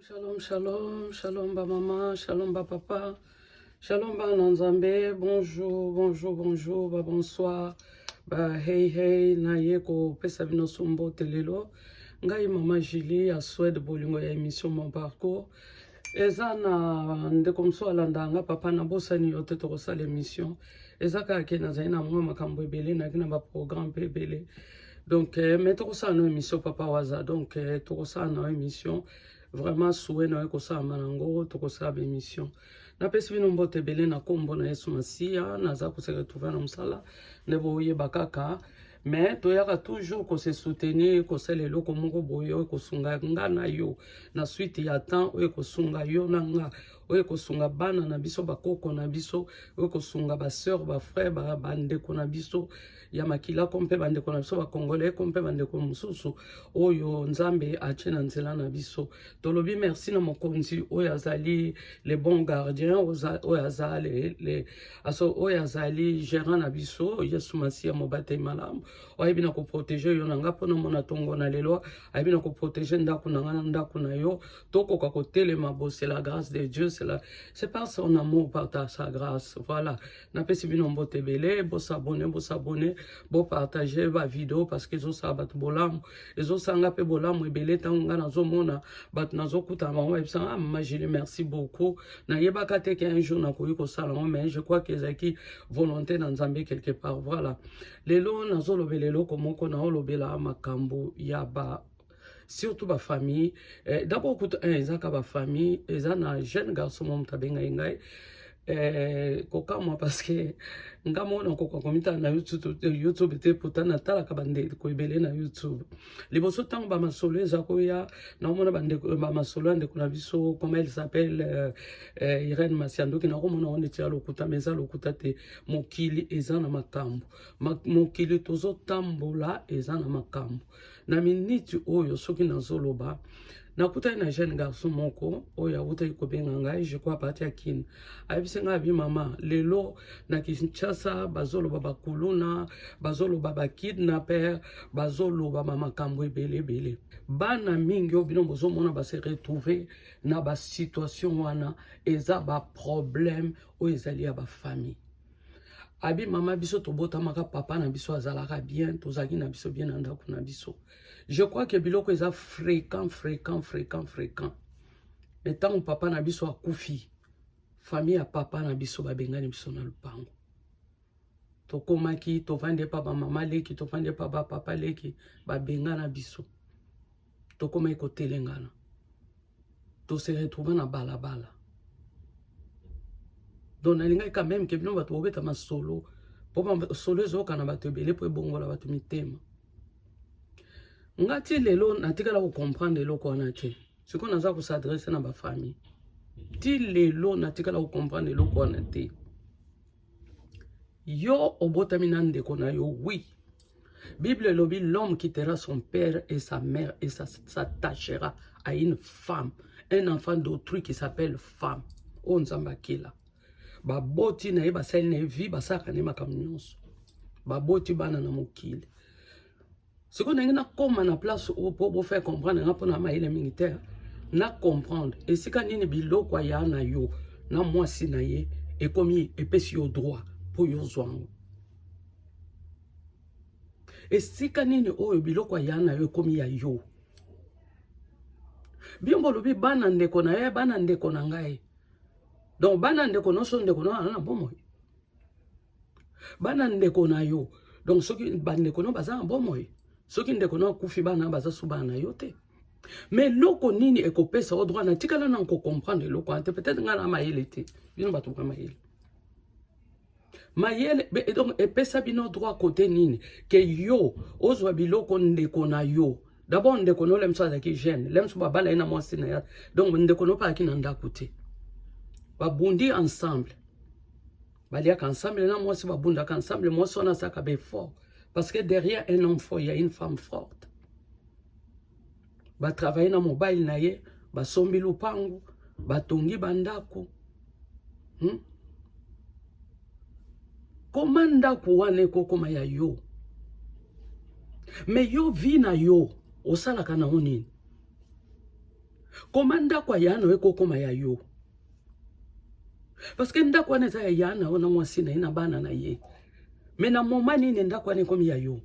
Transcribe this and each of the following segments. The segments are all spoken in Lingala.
Shalom, shalom, shalom ba maman, shalom ba papa, shalom ba nanzambe, bonjour, bonjour, bonjour, ba bonsoir, ba hey hey, na ye ko pesa bino sombo telelo. Ngai maman Julie à Suède bolingo ya émission mon parcours. eza na ndeko mosusu alanda nga papa nabosani yo te tokosala émission eza kaka ke nazali na mwa makambo ebele nayaki na baprogramme mpe ebele donc eh, me tokosala na émission papa waza donc eh, tokosala na émission vraiment souwe na yo ekosalama nango tokosala baémission napesi bino mbote ebele na nkombo na yesu masiya naza koseka tuva na mosala nde boyeba kaka mais toyaka toujours ko se soutenir kosala eloko moko boye oyo ekosunga nga na yo na suite ya temps oyo ekosunga yo na nga oyo ekosunga bana na biso bakoko na biso oyo ekosunga baseur bafrère bandeko na biso ya makila ko mpe bandeko na biso bakongolais ko mpe bandeko mosusu oyo nzambe atie na nzela na biso tolobi merci na mokonzi oyo azali le bon gardien oyo azali aso oyo azali gérant na biso yesu masiya mobateli malamu ayebi na koprotege yo na nga mpo na mona ntongo na lelo ayebi na koprotege ndako na nga na ndako na yo tokoka kotelema bo c'est la grâce de dieu c'est pas son amour par ta sa grâce voilà napesi bino mbote ebele bosabone bosabone bopartage bavideo parceke ezosala bato bolamu ezosanga mpe bolamu ebele ntango ngai nazomona bato nazokutana bango bayebisa ah magili merci beaucoup nayebaka te ke un jour nakoki kosala yango mais je crois ke ezalaki volonté na nzambe quelque part voilà lelo nazolobela eloko moko naolobela makambo ya ba surtout ba famille eh, d'abord kuta eh, eza ka ba famille eza na jeune garçon mom tabenga ngai eh, kokamwa parce que nga moko nakoka komitala na youtube, eh, YouTube te pourtant natalaka bandeko ebele na youtube liboso ntango bamasolo eza koya nakomona bamasolo ya ndeko na biso comment elle s'appelle euh, euh, irene masiandoki nakomona ngo neti ya lokuta ma eza lokuta te mokili eza na makambo Ma, mokili tozotambola eza na makambo na miniti oyo soki nazoloba nakutani na jeune garçon moko oyo awutaki kobenga ngai je crois parti ya kin ayebisi ngai abi mama lelo na kinshasa bazoloba bakuluna bazoloba bakidnaper bazoloba bamakambo ebele ebele bana mingi oyo bino bozomona base retrouve na basituation wana eza baproblème oyo ezali ya bafamille abi mama biso tobotamaka papa na biso azalaka bien tozalaki na biso bien na ndako na biso je crois que biloko eza fréquent fréquent fréquent fréquent me ntango papa na biso akufi famille ya papa na biso babengani biso na lopango tokomaki tovandi epa bamama leki tovandi epa bapapa leki babengana biso tokomaki kotelengana to se retrouva na balabala donc nalingaki quand même ke bino bato bobeta masolo mpo solo ezoyoka na bato ebele mpo ebongola bato mitema nga ti lelo natikala kocomprendre eloko wana te sikoyo naza kosadresse na bafamille ti lelo natikala kocomprendre eloko wana te Yo obotami na ndeko na yo, oui. Bible elobi l'homme quittera son père et sa mère et s'attachera à une femme, un enfant d'autrui qui s'appelle femme. Oyo oh, Nzambe akela. Baboti na ye basali na ye vie basalaka ne makambo nyonso. Baboti bana na mokili. sikoyo ndenge nakoma na place oyo mpo bofaire comprendre nga mpo na mayele mingi te na comprendre esika nini biloko aya na yo na mwasi na ye ekomi epesi yo droit mpo yo ozwa yango esika nini oyo biloko aya na yo ekomi ya yo bino bolobi bana ndeko na ye bana ndeko na ngai donc bana ndeko nyonso ndeko na yo aza na bomoi bana ndeko na yo donc soki bandeko no baza na bomoi soki ndeko no akufi bana baza su bana na yo te me eloko nini ekopesa o droit natikala na kocomprendre eloko wana te peut-être ngai na mayele te bino bato ba mayele mayele donc epesa bino droit kote nini ke yo ozwa biloko ndeko na yo dabord ndeko no lemso azalaki jeune lemso babala ye na mwasi na ya donc ndeko no palaki na ndako te babundi ensemble baliaka ensemble na mwasi babundaka ensemble mwasi wana azalaka befort parce que derrière un homme fort ya une femme forte batravaille na mobile na ye basombi lupangu batongi bandako hmm? koma ndako wana ekokoma ya yo me yo vi na yo osalaka nango nini koma ndako ya yano ekokoma ya yo parce que ndako wana eza ya ya na yo na mwasi na ye na bana na ye me na moma nini ndako wana ekomi ya yo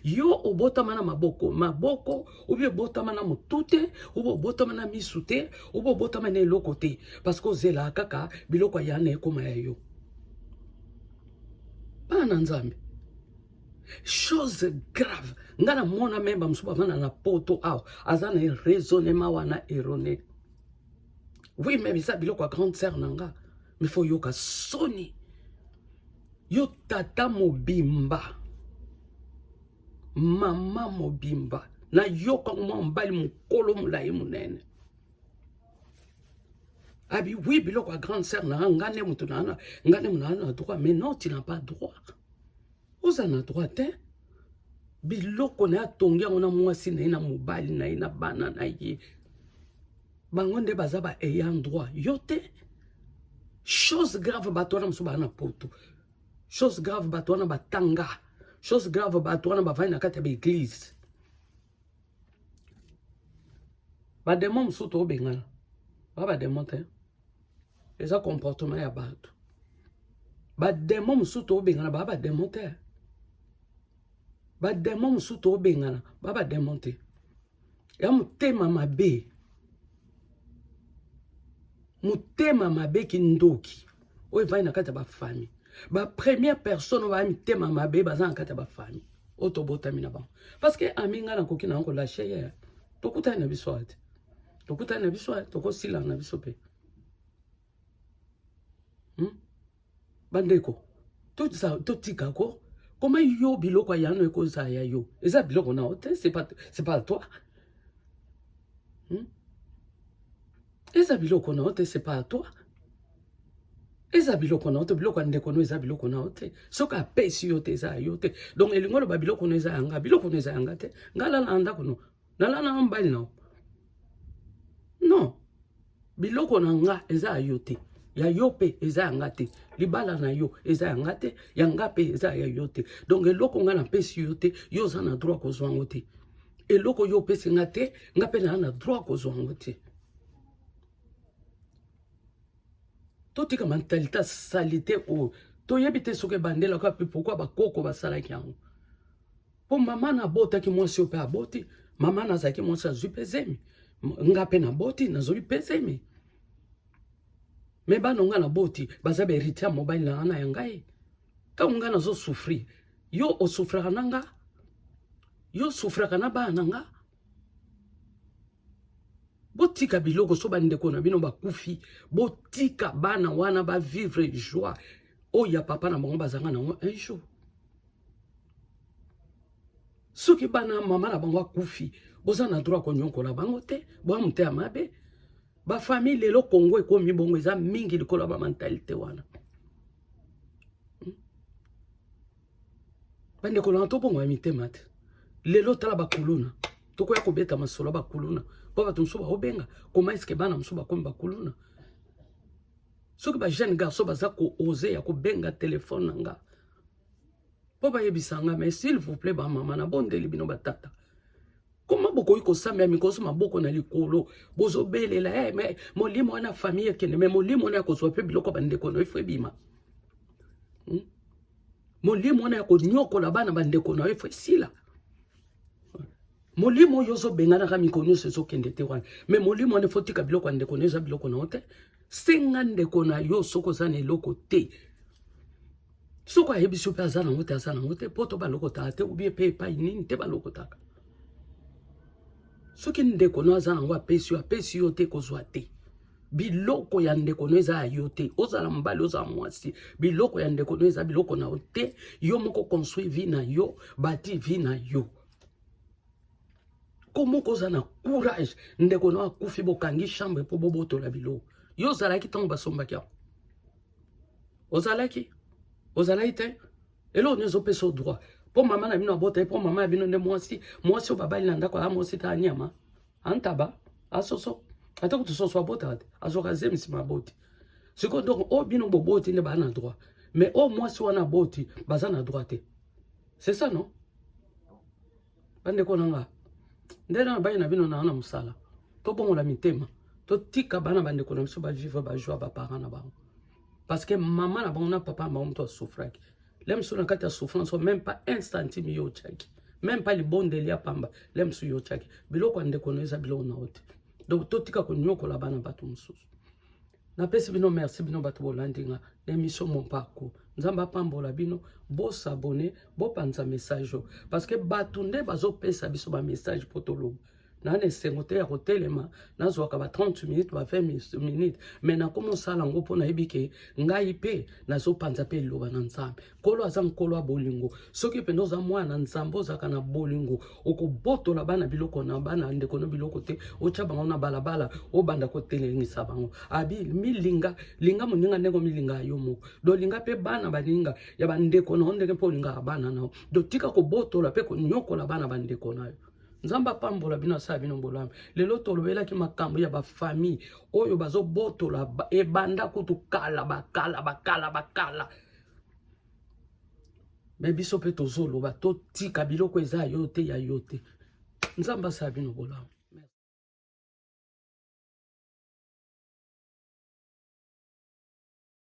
yo obotama na maboko maboko obi obotama na motu te obi obotama na misu te obi obotama na eloko te parce que ozelaka kaka biloko ya na ekoma ya yo bana na nzambe chose grave ngai namona meme bamosusu bavanda na poto awa aza na raisonnement wana erone oui meme eza biloko ya grande sœur na nga mais faut yoka soni yo tata mobimba mama mobimba nayoka mwa mobali mokolo molai monene abi oui biloko ya grande sœur na nga nde moto na nga nde moto na droit mais non tu n'as pas droit oza na droit te biloko na ye atongi yango na mwasi na ye na mobali na ye na bana na ye bango nde baza ba ayant droit yo te chose grave bato wana mosusu baa na poto chose grave bato wana batanga chose grave bato wana bavandi na kati ya baeglize bademo mosusu tobengana ba bademo te eza comportement ya bato bademo mosusu tobengana baa bademo te bademo mosusu tobengana baa bademo te ya motema mabe motema mabe kindoki oyo evandi na kati ya bafami bapremière personne oyo baya mitema mabe baza na kati ya bafami oyo tobotami na bango parce que ami ngai nakoki na yango lashe ye tokutani na biso ate tokutani na biso eh, tokosilana na biso mpe hmm? bandeko totika ko koma yo biloko ya yano ekozala ya yo eza biloko na yo te c'est pas toi hmm? eza biloko na yo te c'est pas toi eza biloko na yo te biloko ya ndeko no eza biloko na yo te soki apesi yo te eza ya yo te donc elingi oloba biloko no eza yanga biloko no eza yanga te ngai lala na ndako no nala na mbali na non biloko na nga eza ya yo te ya yo mpe eza ya nga te libala na yo eza ya nga te ya nga mpe eza ya yo te donc eloko nga napesi yo te yo oza na droit kozwa yango te eloko yo opesi nga te nga mpe naa na droit kozwa yango te totika mentalite salite oyo toyebi te soki ebandela kaka mpe pourkui bakoko basalaki yango Po mama na botaki mwasi yo pe aboti, mama na zaki mwasi azui pe zemi. Nga pe na boti na zoli pe zemi. Me bana nga na boti baza ba heritier ya mobali na ana ya ngai. Tango nga nazo souffrir, yo o souffraka na nga? Yo souffraka na bana nga? botika biloko so bandeko na bino bakufi botika bana wana bavivre joie oyo ya papa na bango bazanga na yango un jour soki bana mama na bango akufi boza na droit konyokola bango te boya moteya mabe bafamille lelo kongo ekomi bongo eza mingi likolo ya bamentalité wana bandeko na tobongola mitema te lelo tala bakuluna tokoya kobeta masolo bakuluna mpo bato mosusu baobenga koma eske bana mosusu bakomi bakuluna soki bajeune garçon baza koose ya kobenga telefone na nga mpo bayebisa nga mais s'il vous plaît bamama nabondeli bino batata koma bokoki kosambela mikoso maboko na likolo bozobelela hey, eh, me molimo wana famille ekende me molimo wana ya kozwa mpe biloko bandeko na yo ifo ebima hmm? molimo wana ya konyokola bana bandeko na yo ifo esila molimo oyo ozobenganaka mikolo nyonso ezokende te wana me molimo wana ifo tika biloko ya ndeko na yo eza biloko na yo te senga ndeko na yo soki oza na eloko te soko ayebi soki aza nango te aza nango te poto balokotaka te ubie mpe epai nini te balokotaka soki ndeko no aza nango apesi yo apesi yo te kozwa te biloko ya ndeko no eza ya yo te ozala mobali ozala mwasi biloko ya ndeko no eza biloko na yo te yo moko construit vie na yo bati vie na yo komoko oza na courage ndeko no akufi bokangi chambre mpo bobotola biloko yo ozalaki ntango basombaki yango ozalaki ozalaki te eloko nini ezopesa o droit mpo mama na bino abota ye mpo mama ya bino nde mwasi mwasi oyo babali na ndako aa mwasi ta anyama antaba asoso ata kutu soso abotaka te azwaka zemisi maboti sikoyo donc oyo bino boboti nde baa na droit mais oyo mwasi wana aboti baza na droit te c'est ça non Bandeko na nga, nde na baye na bino na na mosala, tobongola mitema, totika bana bandeko na biso bavivre bajoie baparent na bango parce que mama na bango na papa na bango moto asouffraki le mosusu na kati ya souffrance oyo même pas un centime yo otyaki même pas libondeli ya pamba le mosusu yo otyaki biloko ya ndeko na yo eza biloko na yo te donc totika konyokola bana bato mosusu napesi bino merci bino bato bolandi nga na émission mon parcours nzambe apambola bino bosabone bopanza message oyo parce que bato nde bazopesa biso bamessage mpo toloba naa na esengo te ya kotelema nazwaka ba 30 minutes ba 20 minutes me nakomi osala yango mpo nayebi ke ngai mpe nazopanza mpe liloba na nzambe nkolo aza nkolo ya bolingo soki mpenza oza mwana na nzambe ozalaka na bolingo okobotola bana biloko na bana ndeko na biloko te otya bango na balabala obanda kotelemisa bango abi milinga linga moninga ndenge omilinga yo moko dolinga mpe bana baninga ya bandeko na yo ndenge mpe olingaka bana na yo dotika kobotola mpe konyokola bana bandeko na yo nzambe apambola bino asala bino bolamu lelo tolobelaki makambo ya bafamille oyo bazobotola ebanda kutu kala bakala bakala bakala me biso mpe tozoloba totika biloko eza yo te ya yo te nzambe asala bino bolamu